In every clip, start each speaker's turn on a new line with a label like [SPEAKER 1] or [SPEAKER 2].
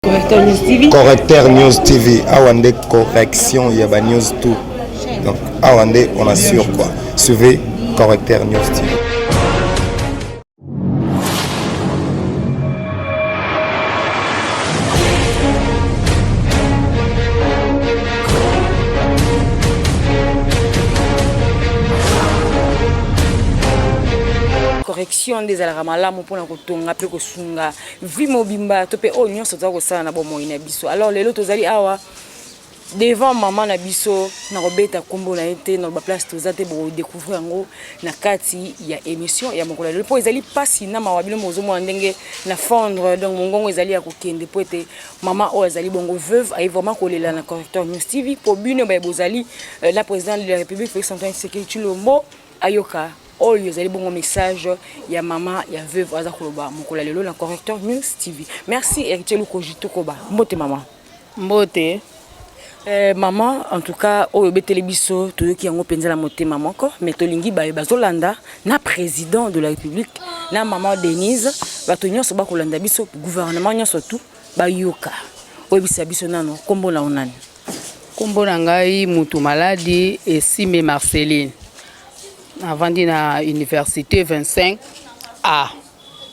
[SPEAKER 1] Correcteur News TV. Correcteur News TV.
[SPEAKER 2] Awa nde correction ya ba news tout. Donc awa nde on assure quoi. Suivez Correcteur News TV.
[SPEAKER 1] correction nde ezalaka malamu mpona kotonga mpe kosunga vie mobimba to mpe oyo nyonso toza kosala na bomoi na biso alors lelo tozali awa devant mama na biso nakobeta nkombo na ye te naloba place toza te bokodecouvrir yango na kati ya émission ya mokolo ya lelo mpo ezali mpasi na mawa bino mozomona ndenge na fondre donc mongongo ezali ya kokende mpo ete mama oyo azali bongo veuve aye vraiment kolela na correcteur news tv mpo bino baye bozali euh, na président de la république félix antoine sekei chilombo ayoka Oyo ezali bongo message ya mama ya veuve aza koloba mokola lelo na correcteur news tv merci héritier lukoji tokoba mbote mama mbote
[SPEAKER 3] Eh,
[SPEAKER 1] mama en tout cas oyo obeteli biso toyoki yango mpenza na motema moko mais tolingi baye bazolanda na président de la république na mama denise bato nyonso bakolanda biso gouvernement nyonso tout bayoka oyebisa biso nano nkombo na yo nani Kombo na
[SPEAKER 3] ngai mutu maladi Esime Marceline. Navandi na université 25 A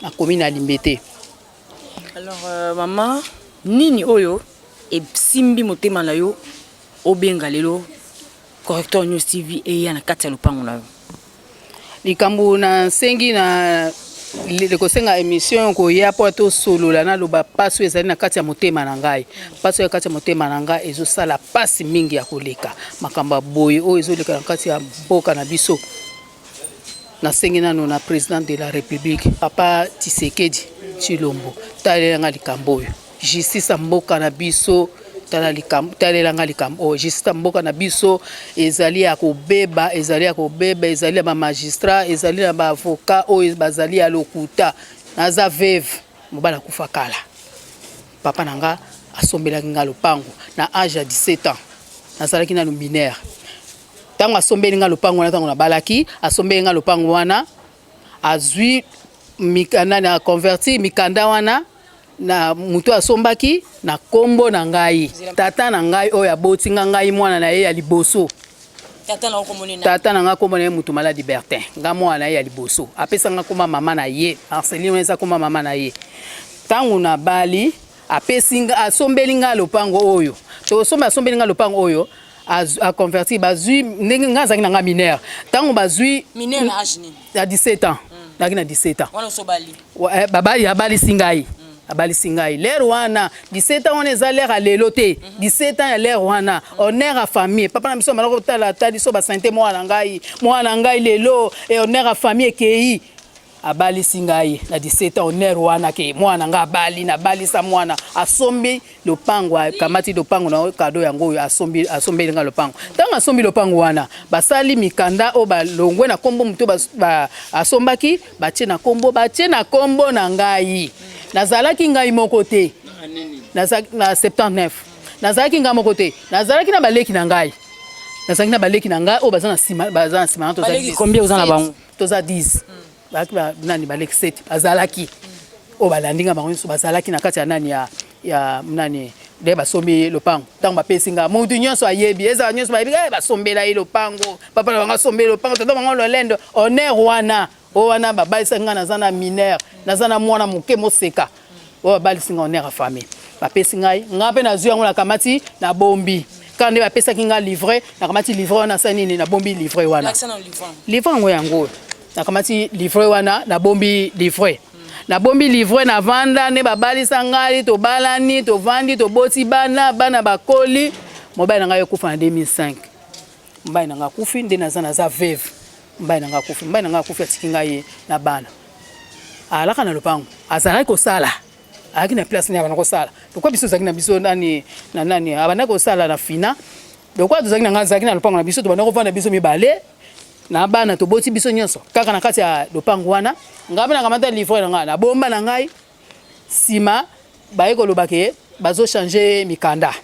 [SPEAKER 3] na commune ya Limbete. Alors
[SPEAKER 1] euh, maman, nini oyo esimbi motema na yo obenga lelo correcteur news tv eya na kati ya lopango na yo likambo
[SPEAKER 3] nasengi na kosenga emission koya mpo tosolola naloba mpasi oyo ezali na kati ya motema na ngai mpasi oyo ya kati ya motema na ngai ezosala mpasi mingi ya koleka makambo ya boye oyo ezoleka na kati ya mboka na biso nasengi nano na president de la république papa tisekedi tshilombo talela ngai likambo oyo Justice ya mboka na biso tala likambo talela nga likambo oyo justice ya mboka na biso ezali ya kobeba ezali ya kobeba ezali ya bamagistrat ezali na baavocat oyo bazali ya lokuta naza veve mobali akufa kala papa na nga asombelaki nga lopango na age ya 17 ans nazalaki nanu minere ntango asombeli nga lopango wana ntango nabalaki asombeli nga lopango wana azwi mikanda na converti mikanda wana na moto asombaki na nkombo na ngai tata na ngai oyo aboti nga ngai mwana na ye ya liboso tata na ngai nkombo na ye moto maladi bertin ngai mwana na ye ya liboso apesa ngai nkoma mama na ye marcelin wana eza nkoma mama na ye ntango nabali apesi asombeli ngai lopango oyo tosomba asombeli ngai lopango oyo aconverti bazwi ndenge ngai azalaki na ngai mineur ntango bazwi
[SPEAKER 1] na 17 ans
[SPEAKER 3] naki na 17 ans wana osobali eh,
[SPEAKER 1] babali abalisi
[SPEAKER 3] ngai mm. abalisi ngai lere wana 17 ans wana eza lere ya lelo te 17 mm-hmm. ans ya lere wana mm. honneur ya famille papa na biso amalaki kotala ata biso basante mwana na ngai mwana na ngai lelo e honneur ya famille ekei abalisi ngai na 17 ans honneur wana ke mwana ngai abali nabalisa mwana asombi lopango akamati lopango na kado yango oyo asombi asombeli nga lopango ntango asombi lopango wana basali mikanda oyo balongwe na kombo moto asombaki batie na kombo batie na kombo na ngai nazalaki ngai moko te na 79 nazalaki ngai moko te nazalaki na baleki na ngai nazalaki na baleki na ngai oyo baza na nsima baza na nsima na tozali combien oza na bango
[SPEAKER 1] toza
[SPEAKER 3] 10 bazalaki ba nani ba lexete bazalaki oyo balandi nga bango nyonso bazalaki na kati ya nani ya ya nani nde basombi ye lopango ntango bapesi nga motu nyonso ayebi ezala nyonso bayebi eh, basombela ye lopango papa na bango asombeli lopango tata bango lolendo honneur wana o wana babalisaki nga naza na mineur naza na mwana moke moseka oyo babalisi ngai honere ya famille bapesi ngai ngai mpe nazwi yango nakamati nabombi kaka nde bapesaki ngai livre nakamati livre wana asali nini nabombi livre wana livre yango yango oyo nakamati livre wana nabombi livre nabombi livre na vanda nde babalisa ngai tobalani tovandi toboti bana bana bakoli mobali na ngai ekufa na 2005 mobali na ngai akufi nde naza naza veuve mobali na ngai akufi mobali na ngai akufi atiki ngai ye na bana alaka na lopango azalaki kosala ayaki na place nini abanda kosala lokola biso tozalaki na biso nani na nani abanda kosala na fina lokola tozalaki na ngai azalaki na lopango na biso tobanda kovanda biso mibale na bana toboti biso nyonso kaka na kati ya lopango wana ngai mpe nakamata livre na ngai na bomba na ngai sima baye koloba ke bazo changer mikanda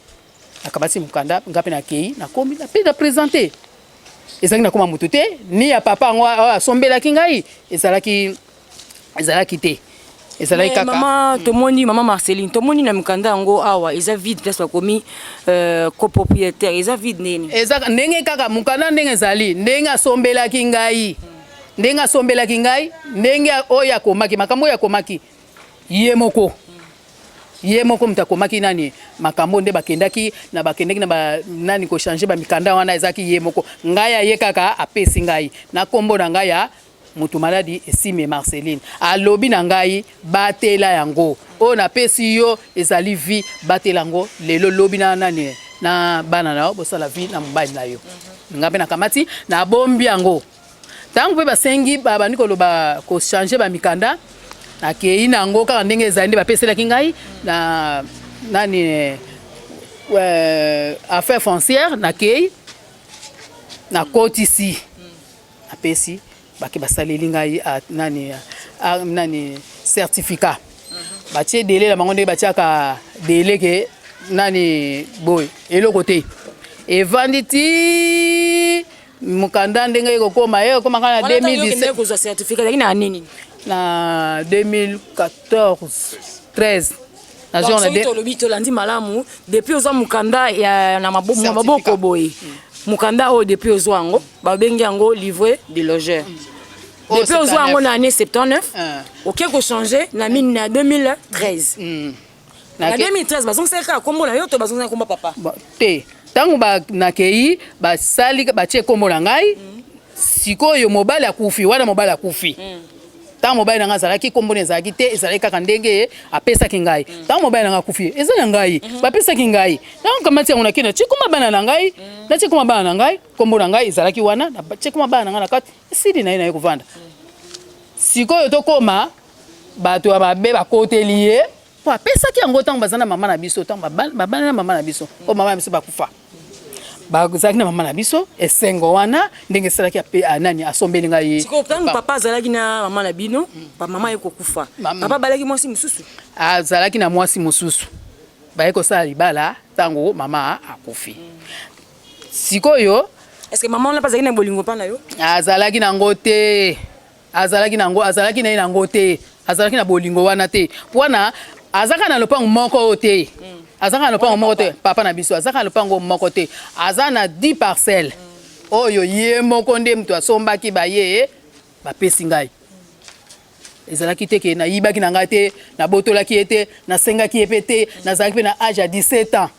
[SPEAKER 3] nakamati mokanda nga mpe nakei nakomi mpe na presente ezalaki nakoma motu te ni ya papa yango oyo asombelaki ngai ezalaki ezalaki te ezalaki kaka mama hmm. tomoni mama
[SPEAKER 1] marceline tomoni na mikanda yango awa eza vide place bakomi euh, copropriétaire eza vide nini eza ndenge kaka
[SPEAKER 3] mokanda ndenge ezali ndenge asombelaki ngai ndenge asombelaki ngai ndenge oyo akomaki makambo oyo akomaki ye moko ye moko moto akomaki nani makambo nde bakendaki na bakendaki na ba, nani kochange bamikanda wana ezalaki ye moko ngai aye kaka apesi ngai na nkombo na ngai ya moto maladi esime marceline alobi na ngai batela yango oyo napesi yo ezali vi batela yango lelo lobi na nani na bana na yo bosala vi na mobali na yo ngai mpe nakamati nabombi yango Tango pe basengi ba bandi koloba ko changer ba mikanda nakeyi na yango kaka ndenge ezali nde bapeselaki ngai na nani euh, affaire foncière nakeyi nakotisi napesi bake basaleli ngai ah, nani ah, nani certificat mhm. batie dele na bango ndenge batiaka dele ke nani boye eloko te evandi ti mokanda ndenge ekokoma ekokoma kaka na 2017 kozwa certificat ezalaki na nini
[SPEAKER 1] na
[SPEAKER 3] 2014 13 tolobi tolandi malamu
[SPEAKER 1] depuis ozwa mokanda ya na maboko boye mokanda oyo depuis ozwa yango babengi yango livre de logeur oh, depuis ozwa yango na année 79 ah. oke kochange na 2013 na 2013 bazongisaki kaka kombo na yo to bazongisaki kombo papa te ntango
[SPEAKER 3] nakei basali batie kombo na ngai mm. sikoyo mobali akufi wana mobali akufi mm. ntango mobali na ngai azalaki kombo na ezalaki te ezalaki kaka ndenge apesaki ngai mm. ntango mobali na ngai akufi eza na ngai mm-hmm. bapesaki ngai ntango kamati yango nakei natie koma bana na ngai natie koma bana na ngai kombo na ngai ezalaki wana natie koma bana na ngai na kati esili na ye na ye kovanda sikoyo tokoma bato ya mabe bakoteli ye mpo apesaki yango ntango baza na mama na biso ntango babali na mama na biso mpo mama na biso bakufa bazalaki na mama na biso esengo wana ndenge esalaki ah, nani asombeli ngai ye sikoyo ntango papa azalaki
[SPEAKER 1] na mama na bino mama ye kokufa papa abalaki mwasi mosusu azalaki na
[SPEAKER 3] mwasi mosusu baye kosala libala ntango mama akufi sikoyo eske
[SPEAKER 1] mama wana mpe azalaki na bolingo mpa na yo azalaki nango
[SPEAKER 3] te azalaki na yango azalaki na ye na yango te azalaki na bolingo wana te wana azaka na lopango moko oyo te mm. azaka na lopango moko te papa na biso azaka na lopango moko te aza na 10 parcelle mm. oyo ye moko nde moto asombaki baye bapesi ngai ezalaki te ke nayibaki na ngai te nabotolaki ye te nasengaki ye mpe te nazalaki mpe na age ya 17 ans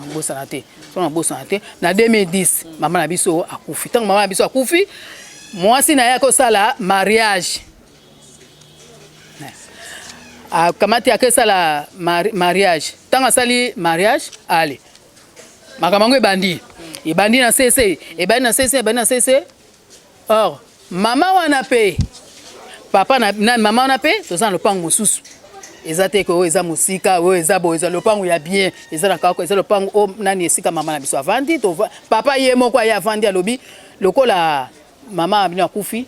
[SPEAKER 3] nabosana te so nabosana te na 2010 mama na biso akufi ntango mama na biso akufi mwasi na ye akosala mariage akamati akesala mariage ntango asali mariage ale makambo yango ebandi ebandi na sese ebandi na sese ebandi na sese Or mama wana pe papa na, na mama wana pe toza na lopango mosusu eza te ko eza musika oyo eza bo eza lopango ya bien eza na kako eza lopango o nani esika mama na biso avandi to papa ye moko aye avandi alobi lokola mama bino akufi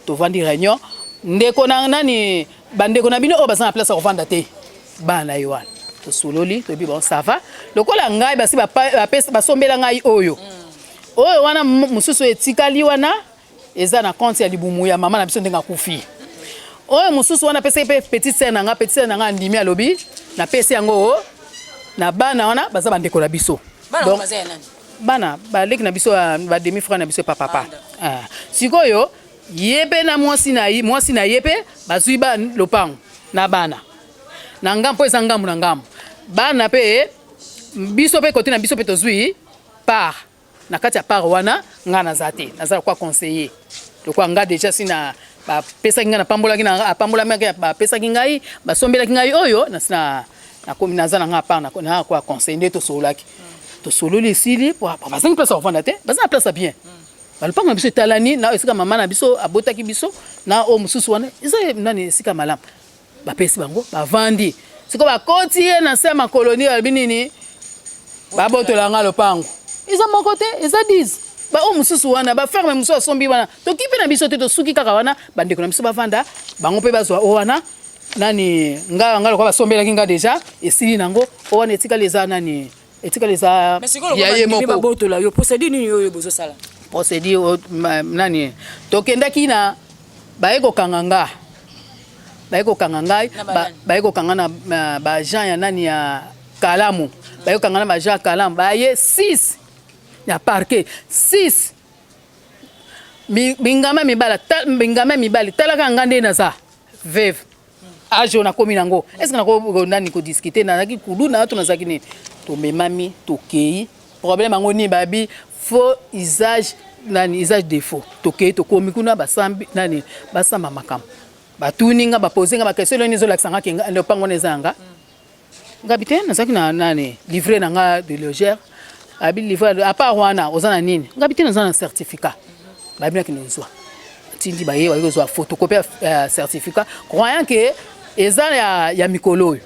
[SPEAKER 3] tovandi réunion ndeko na nani bandeko na bino oyo baza na place ya kovanda te bana na ye wana tosololi toyebi bango sava lokola ngai basi basombela ngai oyo mm. Oyo wana mususu etikali wana eza na compte ya libumu ya mama na biso ndenge akufi. Oyo mususu wana pesi pe petite sœur na nga, petite sœur na nga andimi alobi na pesi yango na bana wana baza bandeko na biso. Bana Donc, baza ya
[SPEAKER 1] nani? Bana
[SPEAKER 3] baleki na biso ba demi frère na biso pa papa. Ah, sikoyo ye pe na mwasi na ye, mwasi na ye pe bazui ba lopango na bana na ngambo mpo eza ngambo na ngambo bana pe biso pe kote na biso pe tozui Par na kati ya par wana nga naza te naza lokola conseiller lokola nga deja si na bapesaki ngai napambolaki na apambolamaki bapesaki ngai basombelaki ngai oyo nasi na nakomi naza na ngai apart na kwa conseiller nde tosololaki tosololi esili bazangi place ya kovanda te baza na place ya bien balopango na biso etalani na esika mama na biso abotaki biso na oyo mosusu wana eza nani esika malamu bapesi bango bavandi siko bakoti ye na se ya makoloni balobi nini babotola nga lopango eza moko te eza 10 baoyo mosusu wana baferme mosusu asombi wana toki mpe na biso te tosuki kaka wana bandeko na biso bavanda bango mpe bazwa o wana nani nga nga lokola basombelaki nga deja esili nango o wana etikali eza nani etikala eza ya ye moko babotola yo procédure nini
[SPEAKER 1] oyo bozosala procédure
[SPEAKER 3] nani tokendaki na baye kokanga nga baye kokanga ngai baye kokanga na baagent ya nani ya kalamu baye kokanga na baagent ya kalamu baye 6 ya parquet 6 bingama mibala bingama mibali talaka nga nde naza veve age oyo nakomi nango estce nako nani kodiscute nazalaki kuluna to nazalaki nini tomemami tokei problème yango nini babi faux usage nani usage de faux tokei tokomi kuna basambi nani basamba makambo batuni nga bapose nga bakestion eloni ezolakisa nga lopango wana eza yanga ngabi te nazalaki na nani livre na nga biologère abi livre à part wana oza na nini ngabi te naza na certificat babi na kende ozwa atindi baye baye kozwa photocopie ya certificat croyant que eza ya, ya mikolo oyo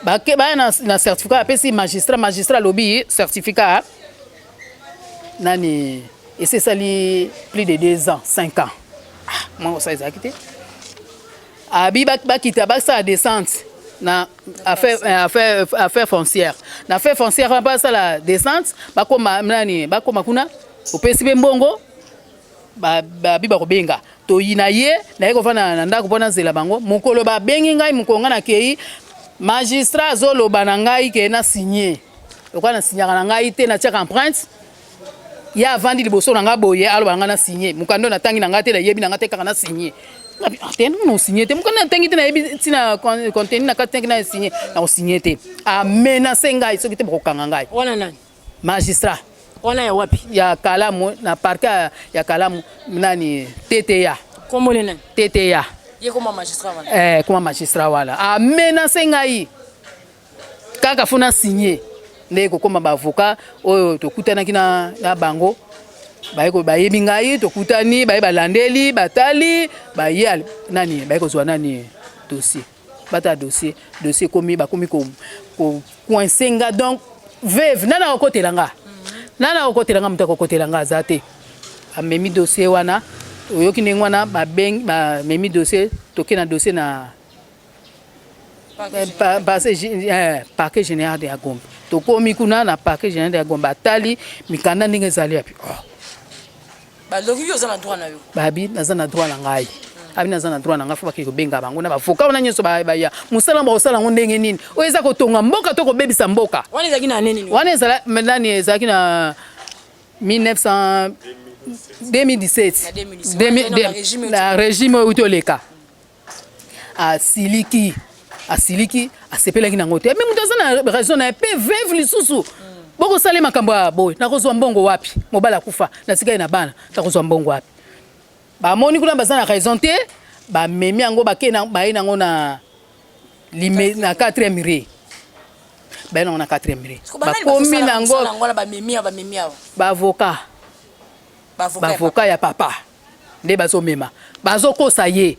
[SPEAKER 3] bake baya na, na certificat apesi magistrat magistrat alobi certificat nani esi esali plus de deux ans cinq ans ah, mwango sa ezalaki te abi bakita basala descente na affaire, euh, affaire, affaire foncière na affaire foncière wana basala descente bakoma nani bakoma kuna opesi mpe mbongo babi bakobenga toyina ye naye kofanda na ndako mpo nazela bango mokolo babengi ngai mokolo ngai nakei magistrat azoloba na ngai ke na signe lokola na signaka na ngai te natiaka empreinte ye avandi liboso na nga boye aloba na nga na signe mokanda na tangi na nga te na yebi na nga te kaka na signe te na na signe te mokanda na tangi te na yebi ntina contenu na kati te na signe na ko signe te a menace ngai soki te bakokanga ngai wana nani
[SPEAKER 1] magistrat
[SPEAKER 3] wana ya wapi
[SPEAKER 1] ya kalamu na
[SPEAKER 3] parquet ya kalamu nani teta kombo ne nani teta ye koma magistrat wana
[SPEAKER 1] eh koma magistrat wana
[SPEAKER 3] a menace ngai kaka fona signe nde kokoma ba avocat oyo tokutanaki na, na bango baye bayebi ngai tokutani baye balandeli batali baye nani baye kozwa nani dossier bata dossier dossier komi bakomi ko, ko coince nga donc veve nana akokotela nga nana akokotela nga moto akokotela nga aza te amemi dossier wana oyoki ndenge wana bamemi dossier toke na dossier na parquet eh, général de ya gombe tokomi kuna na parquet général de ya gombe atali mikanda ndenge ezali yapi oh.
[SPEAKER 1] balobi yo oza na droit na yo babi naza na droit na
[SPEAKER 3] ngai abi naza na droit na ngai fo bakei kobenga bango na bavoka wana nyonso baya mosala yango bakosala yango ndenge nini oyo eza kotonga mboka to kobebisa mboka
[SPEAKER 1] wana ezalaki na nini wana ezala nani
[SPEAKER 3] ezalaki na 1900 2017 na regime euti oleka asiliki asiliki asepelaki nango te me moto aza na raison na ye mpe veve lisusu bokosala ye makambo ya boye nakozwa mbongo wapi mobali akufa nasika ye na bana nakozwa mbongo wapi bamoni kuna baza na raison te bamemi yango baye nango na na 4e mire baye nango na 4e mire bakomi nango baavoka baavoka ya papa nde bazo mema bazo kosa ye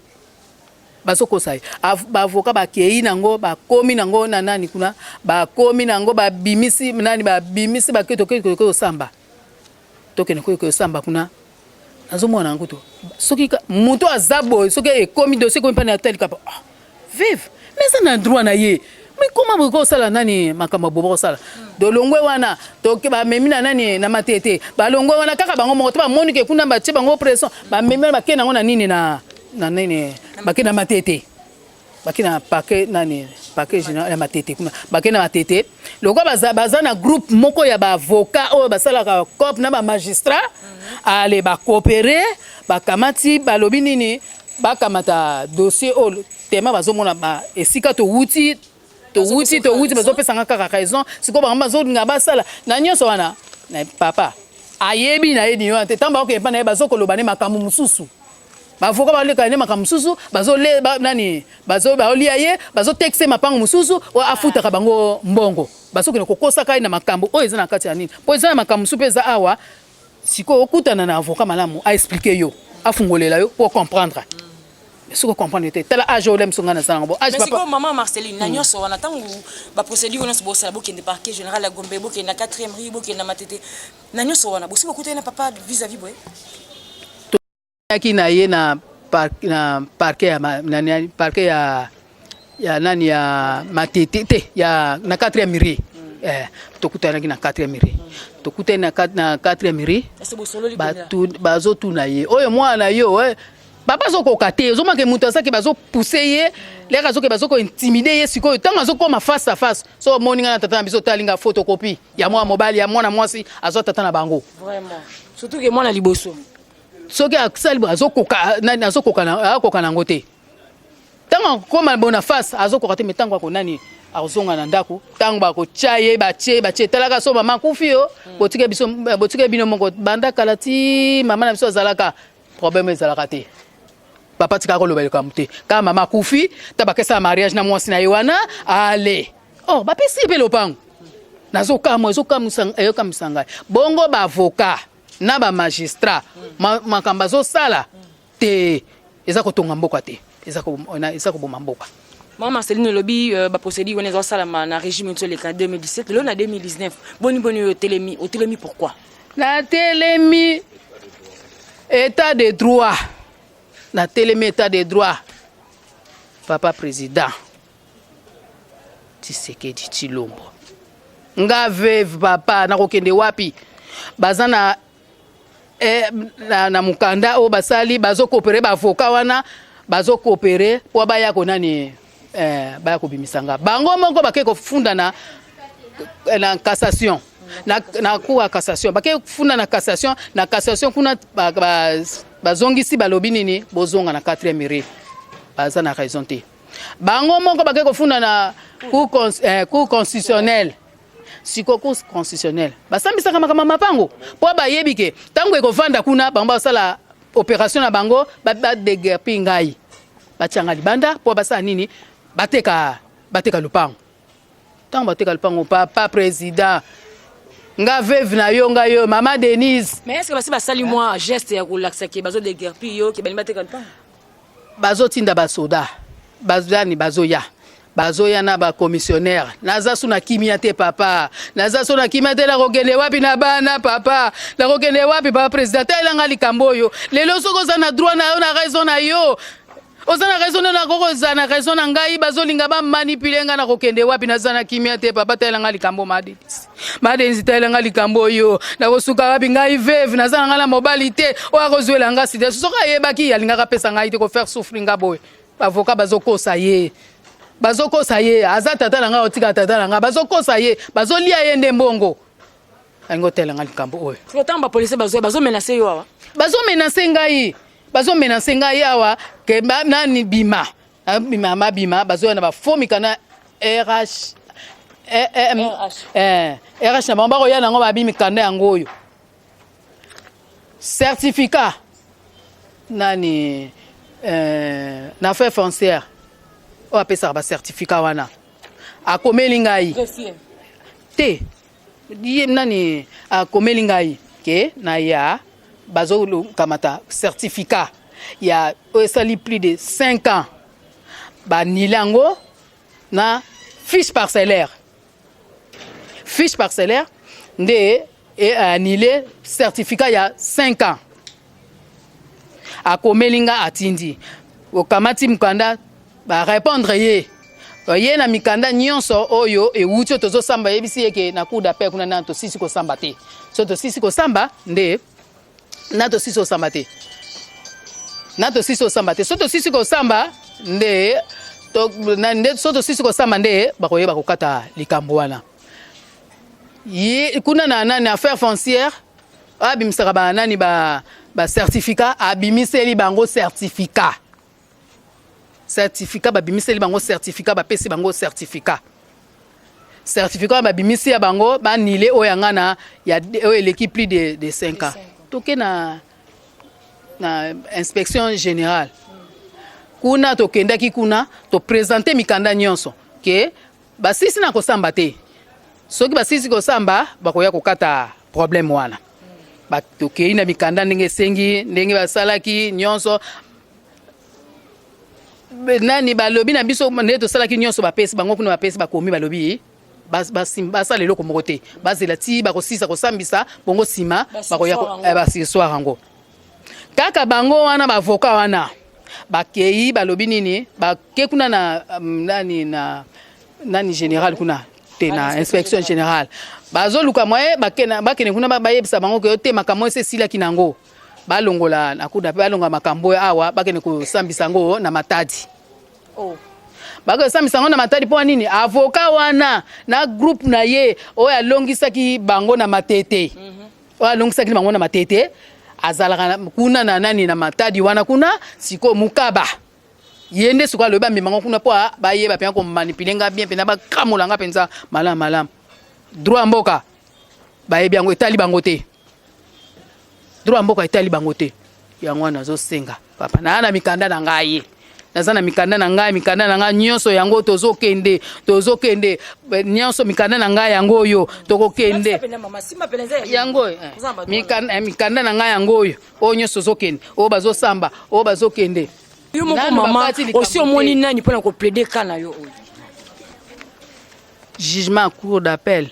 [SPEAKER 3] bazo kosa ye ba avocat ba keyi nango ba komi nango na nani kuna ba komi nango ba bimisi nani ba bimisi ba keto keto keto samba tokende koyo koyo samba kuna nazo mona nango to soki muto aza boye soki ekomi dossier komi pa na tel kapa ah. Vive mais ça na droit na ye mais comment bokoki kosala nani makambo bobo kosala dolongwe wana toke bamemi na nani na matete balongwe wana kaka bango moko to bamoni ke kuna batie bango pression bamemi wana bakei nango na nini na na nini bakei na matete bakei na pake nani pake général ya matete kuna bakei na matete lokola baza, baza na groupe moko ya baavocat oyo basalaka cop na bamagistrat ale bacoopere bakamati balobi nini bakamata dossier oyo tema bazomona ba esika towuti towuti towuti bazopesanga kaka raison sikoyo bango bazolinga basala na nyonso wana papa ayebi na ye nini wana te ntango bakokende mpa na ye bazokoloba ne makambo mosusu bavoka balekana ne makambo mosusu bazole nani baolia ye bazotekise mapango mosusu oyo afutaka bango mbongo bazokende kokosaka ye na makambo oyo eza na kati ya nini mpo eza na makambo mosusu mpe eza awa Sikoyo okutana na avocat malamu a expliquer yo, afungolela yo po comprendre. Soko comprendre te. Tala age oyo lemso ngana sana bo. Age papa. Sikoyo maman Marceline
[SPEAKER 1] na nyoso wana tangu ba procédure wana bo sala bokende parquet général ya Gombe, bokende na 4e rue, bokende na Matete. Na nyoso wana bosi bokutana na papa vis-à-vis boye.
[SPEAKER 3] Yaki na ye na parquet na parquet ya nani parquet ya ya nani ya matete te ya na 4e miri eh, tokutanaki na 4e miri tokutani na 4e miri bazotuna ye oyo mwana yo eh, papa azokoka te ozomake moto azaki bazopuse ye leka azoke bazokointimide ye sikoyo ntango azokoma face à face so omoni ngai na tata na biso otalinga photocopie ya mwana mobali ya mwana mwasi azwa tata na bango surtout
[SPEAKER 1] ke mwana liboso soki
[SPEAKER 3] asali boye azokoka nani azokoka na akoka na yango te ntango akokoma bona face azokoka te me ntango ako nani akozonga na ndako ntango bakotya ye batye batye talaka so mama akufi yo hmm. botike biso botike bino moko banda kala ti mama na biso azalaka problème ezalaka te papa tika koloba likambo te kaka mama akufi ta bakesala mariage na mwasi na ye wana ale or oh, bapesi ye mpe lopango nazokamwa ezokamwisa ngai bongo baavoka na ba magistrat makambo azosala te eza kotonga mboka te eza koboma mboka mama marceline olobi
[SPEAKER 1] euh, baprocédure wana ezasalama na régime nso eleka 2017 lelo na 2019 boni boni oyo otelemi otelemi pourquoi natelemi
[SPEAKER 3] état de droit natelemi état de droit papa président Tshisekedi Tshilombo nga veuve papa nakokende wapi baza na eh, na, na mokanda oyo basali bazokopere baavoka wana bazokopere mpo baya konani eh, baya kobimisa nga bango moko bake kofunda na, eh, na cassation na, na cour ya cassation bake kofunda na cassation na cassation kuna bazongisi ba, ba balobi nini bozonga na 4e rue baza na raison te bango moko bake kofunda na cour eh, constitutionnelle siko cour constitutionnelle basambisaka makambo ya mapango mpo bayebi ke ntango ekovanda kuna bango basala opération na bango badegerpi ngai batyanga libanda mpo basala nini bateka bateka lopango ntango bateka lupango papa président nga veuve na yo nga yo mama denise mais est ce que basi basali mwa
[SPEAKER 1] geste ya kolakisa ke bazo degerpi yo ke balingi bateka lupango bazotinda
[SPEAKER 3] basoda bazani bazoya bazoya na bacommissionnaire naza so na kimia te papa naza so na kimia te nakokende wapi na bana papa nakokende wapi papa président telanga likambo oyo lelo soki oza na droit na yo na raison na yo oza na raison nde nakoki kozala na raison na ngai bazolinga bamanipule ngai nakokende wapi naza na kimia te papa talela ngai likambo madenisi madenisi talela ngai likambo oyo nakosuka wapi ngai veve naza na ngai na mobali te oyo akozwela ngai sida soki ayebaki alingaka apesa ngai te kofaire souffri ngai boye bavoka bazokosa ye bazokosa ye aza tata na ngai otika tata na ngai bazokosa ye bazolia ye nde mbongo alingi otela ngai likambo oyo otango bapolisi bazoya
[SPEAKER 1] bazomenase yo awa bazomenase ngai
[SPEAKER 3] bazo menace ngai awa ke ba nani bima ah, bima ma bima bazo na ba faux mikana RH eh, eh, eh, RH na bango bakoya nango babi mikanda yango oyo certificat nani eh, na affaire foncière oyo apesaka bacertificat wana akomeli ngai te ye nani akomeli ngai ke na ya bazokamata certificat ya oyo esali plus de 5 ans banile yango na fiche parcellaire fiche parcellaire nde anile certificat ya 5 ans akomeli nga atindi okamati mokanda barépondre ye ye na mikanda nyonso oyo ewuti oyo tozosamba yebisi ye ke na cour d'appel kuna nano tosisi kosamba te so tosisi kosamba nde na tosisi kosamba te na tosisi kosamba te so tosisi kosamba nde to, na, nde so tosisi kosamba nde bakoyeba kokata likambo wana ye kuna na nani affaire foncière abimisaka ba nani ba ba certificat abimiseli bango certificat certificat babimiseli bango certificat bapesi bango certificat certificat babimisi ya bango banile oyo yanga na ya oyo eleki plus de, de 5 ans toke na, na inspection générale kuna tokendaki kuna topresente mikanda nyonso ke Basisi na kosamba te. Soki basisi kosamba bakoya kokata problème wana. Batokei na mikanda ndenge esengi ndenge basalaki nyonso nani balobi na biso nde tosalaki nyonso bapesi bango kuna bapesi bakomi balobi basala eloko moko te bazela ti bakosisa kosambisa bongo nsima bakoya eh, basoir yango kaka bango wana bavoka wana bakei balobi nini bake kuna na um, nani na nani general kuna te na inspection générale bazoluka mwaye bakende kuna bayebisa bango ke te makambo esi esilaki nango balongola na kuda mpe balongola makambo oyo awa bakende kosambisa yango na matadi oh. bakosambisa yango na matadi mpo nini avoka wana na groupe na ye oyo alongisaki bango na matete mm -hmm. oyo alongisaki bango na matete azalaka kuna na nani na matadi wana kuna sikoyo mukaba ye nde sikoyo alobi bamema ngo kuna mpo bayeba mpenza komanipule nga bien mpenza bakamola nga mpenza malamu malamu droit ya mboka bayebi yango etali bango te droit ya mboka etali bango te yango wana nazosenga papa naa na mikanda na ngai naza na mikanda na ngai mikanda na ngai nyonso yango tozokende tozokende eh, nyonso mikanda na ngai yango oyo tokokende yango eh, eh, mikanda na ngai yango oyo oyo nyonso tozokende oyo bazosamba oyo bazokende yo moko mama
[SPEAKER 1] osi omoni nani mpo na koplaide ka na yo oyo
[SPEAKER 3] jugement cour d'appel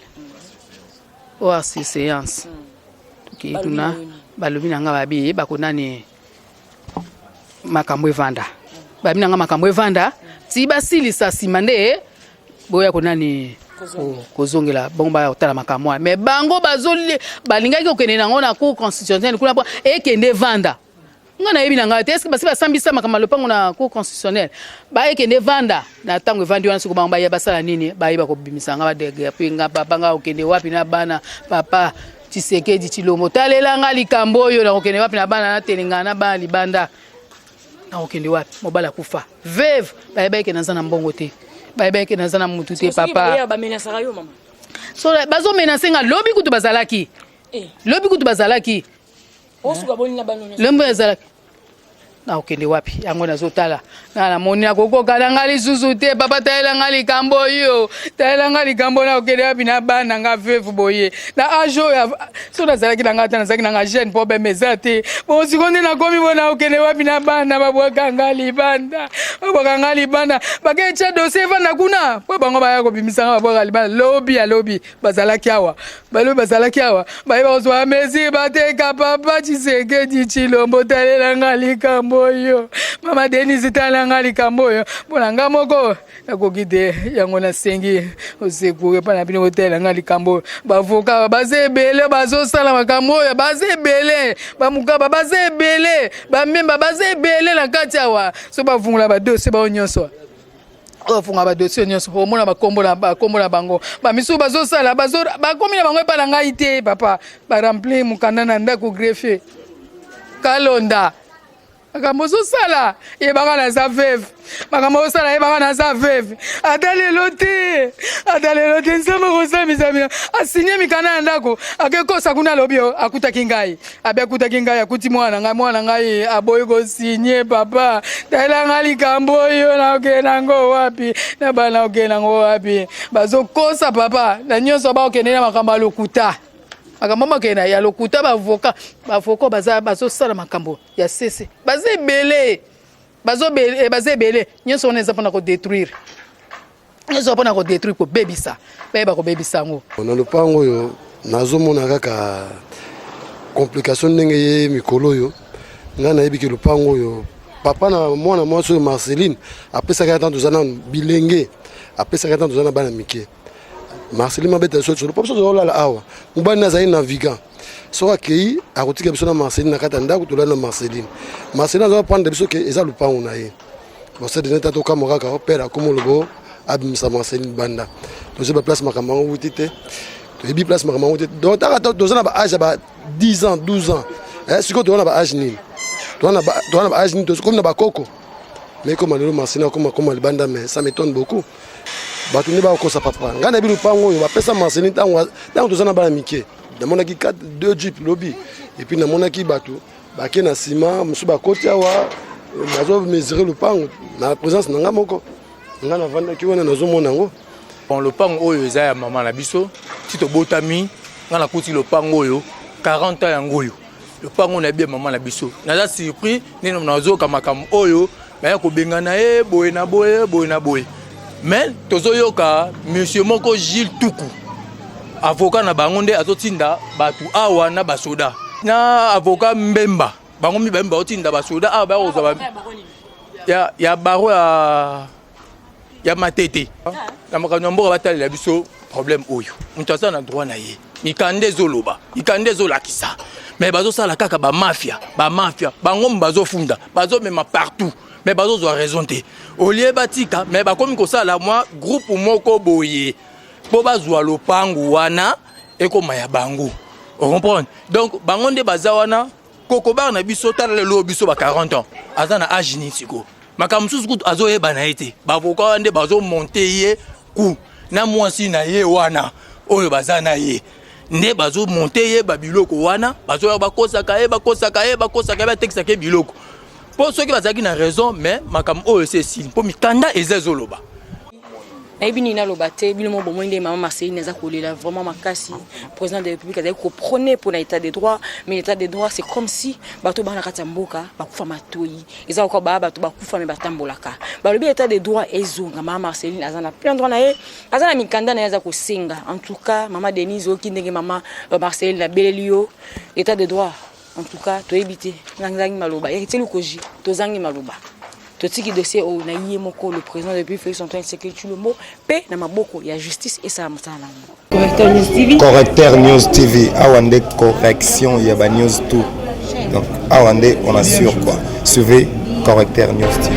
[SPEAKER 3] oyo oh, sur séance tokei hmm. kuna balobi na nga babi bako nani makambo evanda babi na nga makambo evanda ti basilisa nsima nde boya ko nani kozongela bango baya kotala makambo wana me bango balingaki kokende nango na cour constitutionnelle kuna ekende evanda nga nayebi na ngai te eske basi basambisa makambo ya lopango na cour constitutionnel bayekende vanda na ntango evandi wana soko bango baya basala nini bayeba kobimisa nga badegerpi nga papa nga okende wapi na bana papa tisekedi tilombo talela nga likambo oyo nakokende wapi na bana natelengana na bana libanda nakokende wapi mobali akufa veve bayeba eke naza na mbongo te bayeba eke naza na motu te papa bazomenase nga lobi kutu bazalaki eh. lobi kutu bazalaki osuka boni
[SPEAKER 1] na bano nyonso lembo ezalaki
[SPEAKER 3] nakokende wapi yango nazotala na namoni nakokoka na ngai lisusu te papa talela ngai likambo oyo talela ngai likambo nakokende wapi na bana ngai veve boye na age oyo so nazalaki na ngai ata nazalaki na ngai jeune problème eza te bon siko nde nakomi bo nakokende wapi na bana babwaka ngai libanda babwaka ngai libanda baketya dosie evanda kuna mpo bango baya kobimisa ngai babwaka libanda lobi ya lobi bazalaki awa balobi bazalaki awa baye bakozwa mesure bateka papa tshisekedi tshilombo talela nga likambo oyo mama denise talela nga likambo oyo mpo na nga moko nakoki te yango nasengi osekure mpo na bino kotalela nga likambo oyo bavoka baza ebele bazosala makambo oyo baza ebele bamokaba baza ebele bamemba baza ebele na kati awa so bavungula badosie bao nyonso ofunga badosie nyonso omona bakombo na bango bamisusu bazosala bakomi na bango epai na ngai te papa barempli mokanda na ndako greffier kalonda makambo ozosala yebaka naza veve makambo ozosala yebaka naza veve ata lelo te ata lelo te nzambe kosambisa bino asinie mikanda ya ndako akekosa kuna alobi akutaki ngai abi akutaki ngai akuti mwana na ngai mwana na ngai aboyi kosinye papa talela ngai likambo oyo naokende nango wapi na bana okende nango wapi bazokosa papa na nyonso baokende na makambo ya lokuta makambo makende ya lokuta bavoka bavoka baza bazosala makambo ya sese baza ebele baza ebele eh, nyonso wana eza mpona kodetruire ezwa mpona kodetruire kobebisa bayeba kobebisa yango na lopango oyo
[SPEAKER 4] nazomona kaka complication ndenge ye mikolo oyo ngai nayebi ke lopango oyo papa na mwana mwasi oyo marceline apesaka ntango toza na bilenge apesaka ntango toza na bana mike marceline mabeta sosolo mpo biso tozolala awa mobali nazali navigant soki akei akotika biso na marceline na kati ya ndako tolali na marceline marceline aza prendre biso ke eza lopango na ye bosedene ta tokamwa kaka pere akoma olobo abimisa marceline banda toyebi baplace makambo yango wuti te toyebi place makambo yango te donc taka toza na baage ya ba 10 ans 12 ans eh, sikoyo toza na baage nini toza na baage nini tokomi na bakoko mais ekoma lelo marceline akoma akoma libanda mais ça m'étonne beaucoup bato nde bakokosa papa ngai nayebi lopango oyo bapesa marceline ntango toza na bana mike namonaki 4 2 jeep lobi et puis namonaki bato bake na nsima mosusu bakoti awa nazo mesure lopango na présence na ngai moko ngai navandaki wana nazomona yango bon lopango
[SPEAKER 5] oyo eza ya mama na biso ti tobotami ngai nakuti lopango oyo 40 ans yango oyo lopango na bia mama na biso naza surpris nini nazoyoka makambo oyo baya kobengana ye boye na boye boye na boye mais tozoyoka monsieur moko gile tuku avoka na bango nde azotinda bato awa na basoda na avoka mbemba bango mibale baotinda basoda awa baya kozwa ya baro ya ya matete na makambo ya mboka batalela biso problème oyo moto aza na droit na ye mikanda ezoloba mikanda ezolakisa mais bazosala kaka bamafia bamafia bango bazofunda bazomema partout mais bazozwa raison te olie batika mais bakomi kosala mwa groupe moko boye mpo bazwa lopangu wana ekoma ya bango ocomprendre donc bango nde baza wana kokobar na biso tala lelo biso ba 40 ans aza na age nini sikoyo makambo mosusu kutu azoyeba na ye te bavoka wana nde bazomonte ye ku na mwasi na ye wana oyo baza na ye nde bazomonte ye babiloko wana bazoya bakosaka ye bakosaka ye bakosaka ye batekisaka ye biloko mpo soki bazalaki na raison mais makambo oyo esi esili mpo mikanda eza ezoloba
[SPEAKER 1] nayebi nini naloba te bino mo bomoi nde mama marceline aza kolela vraiment makasi président de république azali koprone mpo na état de droit mais l'état de droit c'est comme si bato bana kati ya mboka bakufa matoi eza lokola baa bato bakufa me batambolaka balobi état de droit ezonga mama marceline aza na plein droit na ye aza na mikanda na ye aza kosenga en tout cas mama denise oyoki ndenge mama euh, marceline abeleli yo état de droit En tout cas, toyebi te nazangi maloba yaki teli koji tozangi maloba totiki dossier oyo na ye moko le président depuis Félix Antoine Tshisekedi Tshilombo mpe na maboko ya justice esala mosala na yango. Correcteur News TV. Correcteur News TV
[SPEAKER 2] awa nde correction ya ba news tout donc awa nde on assure quoi suivez Correcteur News TV.